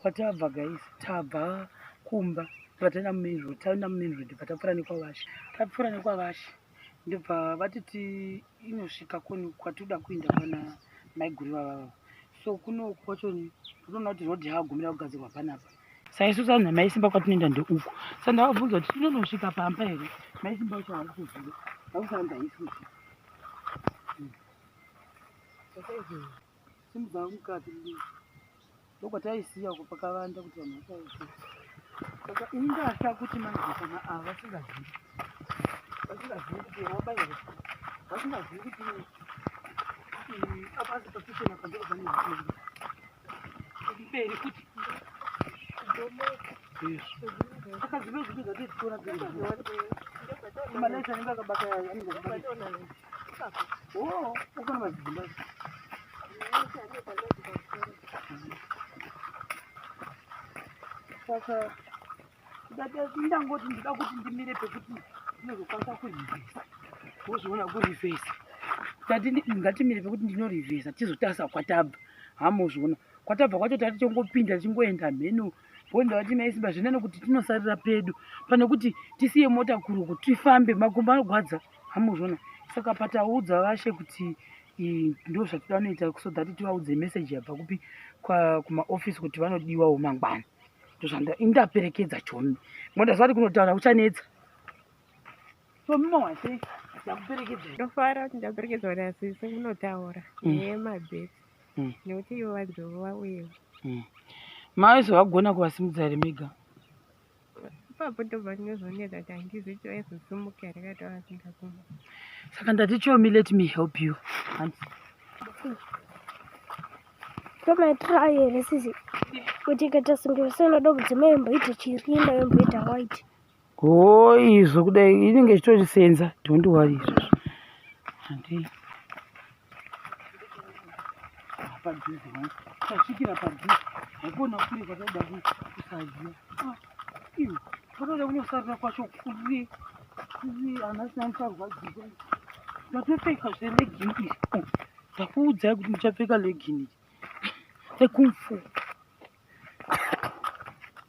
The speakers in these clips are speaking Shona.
Patabva guys, tabva kumba vatenda mumain road, taenda mumain road bva tapfuura nekwavashe. Tapfuura nekwavashe ndobva vatiti inosvika koni kwatinoda kuenda pana maiguru vavavo. So kuno kwacho ndinoona kuti road yaagumira kugadzirwa panapa. Saisu sanhu namaisimba kwatinoenda ndeuku. Saka ndavabvunza kuti tinonosvika pamba here? Maisimba vacho havana kuziva. Vakusanga haisi kuziva. Hmm. Simudza mukati mudiki. Ndokwataisiya uko pakavanda kuti vanhu vasaite. Saka ingatya kuti manje kana ava vasingazivi. Vasingazivi kuti wabaira. Vasingazivi kuti apa asi pakichena pandiri pane mberi futi. Ndomeka. saka ndangoti ndida kuti ndimire pekuti ndinozokwanisa kurivhesa wozviona kurivhesa tati ngatimire pekuti ndinorivhesa tizotarisa kwatabva hamozviona kwatabva kwacho tati tongopinda tichingoenda mheno wonda vati mai simba zvinani kuti tinosarira pedu pane kuti tisiye mota kuruku tifambe makumbo anogwadza hamuzvona saka pataudza vashe kuti ndo zvatida vanoita so that tivaudze message yabva kupi kumaofisi kuti vanodiwawo mangwana ndozvandaperekedza chomi mondazvati kunotaura uchanetsa chomi mawase ndakuperekedza ndofara kuti ndaperekedzwa nasisi kunotaura mm. nemabhesi mm. nekuti ivo vadzova uyewo mm. mavese vagona kuvasimudza here mega ipapo ndobva ndinozoneta kuti handizi kuti vaizosimuka here kati vavasingakuma saka ndati chomi let me help you tomaitira ayo here sisi kuti ikatasungira sinoda kudzimai mboita chirinda yomboita white Hoo izvo kudai inenge ichitosenza don't worry izvozvo. Handii. Padhuze wangu. Tasvikira padhuze. Hakuona kure kwatoda kusaziva. Ah, iwe. Kwatoda kunosarira kwacho kure. Kure ana sina musarwadziwa. Ndatopfeka zve legging iri. Oh, ndakuudzai kuti ndichapfeka legging iri. Rekumfu.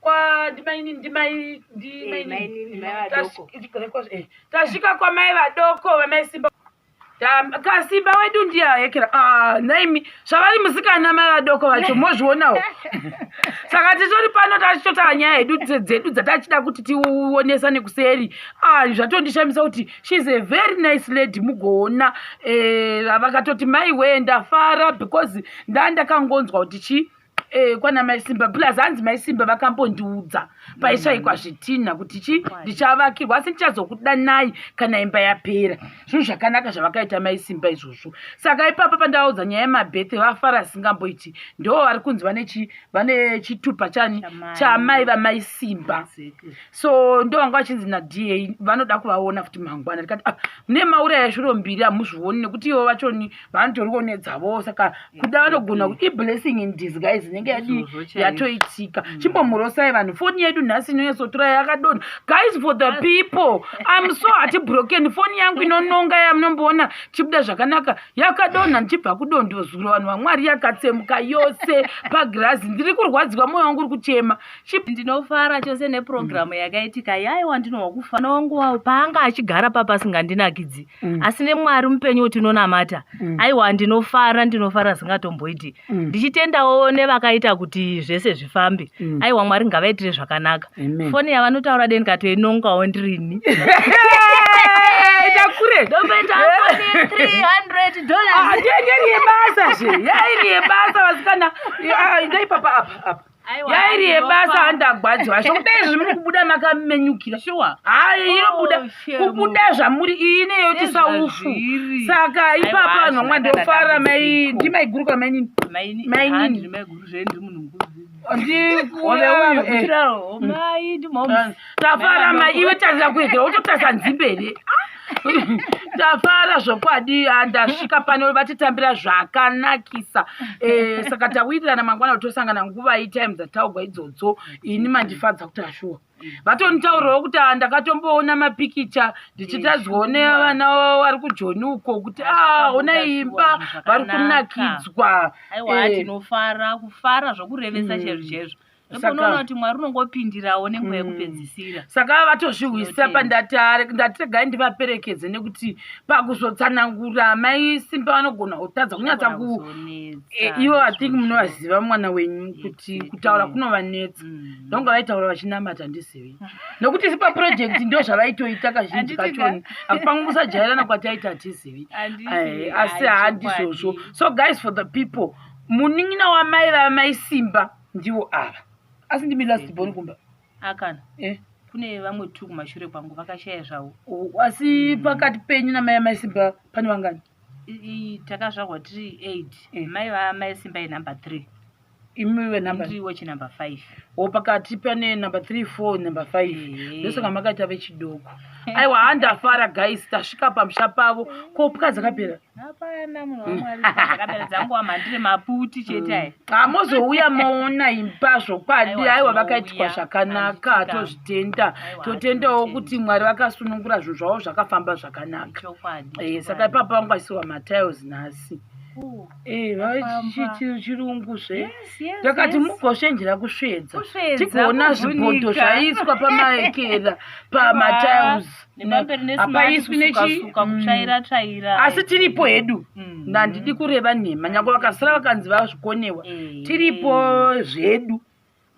kwadimainini ndimai ndimainitasvika eh, kwamai vadoko vamai simba kasimba wedu ndiye ahekera ah, naimi zvavari musikana mai vadoko vacho mozvionawo saka titori pano tachitotaa nyaya hedu dzedu dzatachida kuti tionesa nekuseri ah, zvatondishamisa kuti shes a very nice lady mugoona eh, vakatoti mai wee ndafara because ndaa ndakangonzwa kuti chii eh, kwana mai simba plus hanzi mai simba vakambondiudza paishaikwa zvitinha kuti chi ndichavakirwa asi ndichazokudanai kana imba yapera zvinhu zvakanaka zvavakaita mai simba izvozvo saka ipapa pandavaudza nyaya yemabethe vafara asingamboiti ndo vari kunzi vane chitupa chani chamai vamai simba so ndo vanga vachinzi nada vanoda kuvaona futi mangwana ndikati ah, mune maura yashuro mbiri hamuzvioni nekuti ivo vachoni vanotoriwo nedzavowo saka kuda vanogona kuti iblessing in disguise inenge yadii yatoitika mm. chimbomurosai vanhu foni yedu nhasi inonyatsotura yakadona guys for the people im so hati broken foni yangu inononga yamunomboona chibuda zvakanaka yakadonha ndichibva kudondo zuro vanhu vamwari yakatsemuka yose pagirazi ndiri kurwadziwa mwoyo wangu uri kuchema ndinofara chose neprogramu mm. yakaitika yaiwa ndinohwa kufa mwana wangu wavo paanga achigara papasingandinakidzi mm. asi nemwari mupenyu utinonamata mm. aiwa ndinofara ndinofara zingatomboiti mm. ndichitendawo nevakaita kuti zvese zvifambe mm. aiwa mwari ngavaitire zvakanaka foni yavanotaura deni katoinongawo ndirini kure ndomboita yebasa zve yairi yebasa vasikana ndai papa apa apa yairi yebasa handagwadzwa sho kudai izvi muri kubuda makamenyukira shuwa hayi oh, inobuda kubuda zvamuri iyi ineyo tisaufu saka ipapa vanhu vamwa ndofara mai ndi maiguru ka mainini mainini tafara mai iwe tarira kuegera wototarisa nzimbe here tafara zvokwadi ah, ndasvika pano vatitambira zvakanakisa eh, saka tawirirana mangwana kuti tosangana nguva itime dzataugwa idzodzo ini mandifadza kuti ashuwa vatonitaurawo kuti ah, ndakatomboona mapikicha ndichitadzwawo nevana vari kujoni uko kuti ah, ona imba vari kunakidzwa eh. tinofara kufara zvokurevesa mm. chezvo chezvo Saka- unoona kuti mwari unongopindirawo nenguva Mm. yekupedzisira saka vava vatozvihwisa Zvinotenda. pandatare ndatiregai ndivaperekedze nekuti pakuzotsanangura mai simba vanogona kutadza kunyatsa Vanogona ku kuzonetsa, Eh, ivo i think izvozvo. munovaziva mwana wenyu kuti Exactly. kutaura kunovanetsa Mm. ndonga vaitaura vachinamata ndizivi nokuti sipa project ndo zvavaitoita kazhinji Handiti kachoni ka- pamwe kusajairana kwataita hatizivi Handiti, Eh, asi hayi, handizvozvo chokwadi. so guys for the people munin'ina wamai vamai simba ndiwo ava asi ndimi last born mm-hmm. kumba akana eh? kune vamwe two kumashure kwangu vakashaya zvavo asi mm-hmm. pakati penyu namai amai simba pane vangani takazvarwa tiri eight eh. mai vaamai simba yenumber three imiwe nambaiwo chinumber five o pakati pane number three four number five ndosaka makaita vechidoko aiwa handafara guys tasvika pamusha pavo ko pwa dzakapera hapana munhu wamwari ndakabera dzangu wamhandire maputi chete aya hamozouya mm. moona imba zvokwadi aiwa vakaitwa zvakanaka tozvitenda totendawo kuti mwari vakasunungura zvinhu zvavo zvakafamba zvakanaka eh, saka ipapa vangu vaisiwa matiles nhasi Eh, chirungu zve ndakati mugoshenjera kusvedza tigoona zvipoto zvaiswa pamaekera pamatiles ah. nepamberi nehapaiswi nechisuka mm. kutsvaira tsvaira asi tiripo hedu mm. handidi kureva nhema nyangwe vakasara vakanzi vazvikonewa eh. tiripo zvedu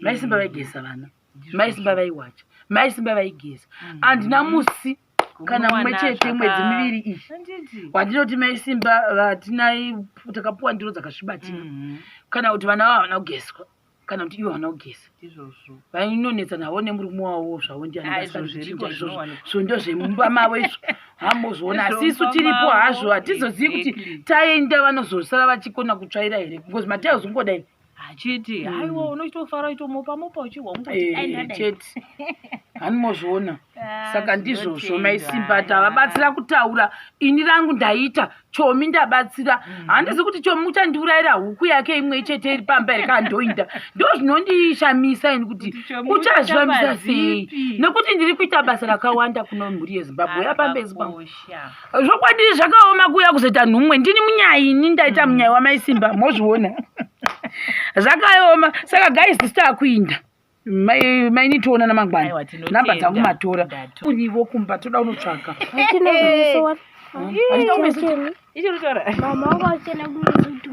maisimba eh. vaigeza vana maisimba vaiwacha maisimba vaigeza mm. andina musi kana mumwe chete mwedzi miviri iyi wandinoti maisimba vatinai takapuwa ndiro dzakasvibatina kana kuti vana vavana kugezwa kana kuti ivo havana kugeza izvozvo vainonetsa navo nemurume wavo zvavo ndianazvo ndozvemumba mavo izvo hamuzoona asi isu tiripo hazvo hatizozivi kuti taenda vanozosara vachikona kutsvaira here because matai uzongodai achiti hmm. haiwa unochitofara uchitomopamopa uchihwa ungoti eh, chete hanimozviona Ah, saka ndizvozvo mai simba tavabatsira kutaura ini rangu ndaita chomi ndabatsira mhm. handizi kuti chomi uchandiurayira huku yake imwe chete iri pamba here kaa ndoinda ndo zvinondishamisa ini kuti uchazvamisa sei nekuti ndiri kuita basa rakawanda kuno mhuri yezimbabwe ya pamba yezimbabwe zvokwadi zvakaoma kuuya kuzoita nhumwe ndini munyai ini ndaita mhm. munyai wamai simba mozviona zvakaoma saka guys sitakuinda maini toona namangwana namba dzangu matora urivo kumba toda unotsvaga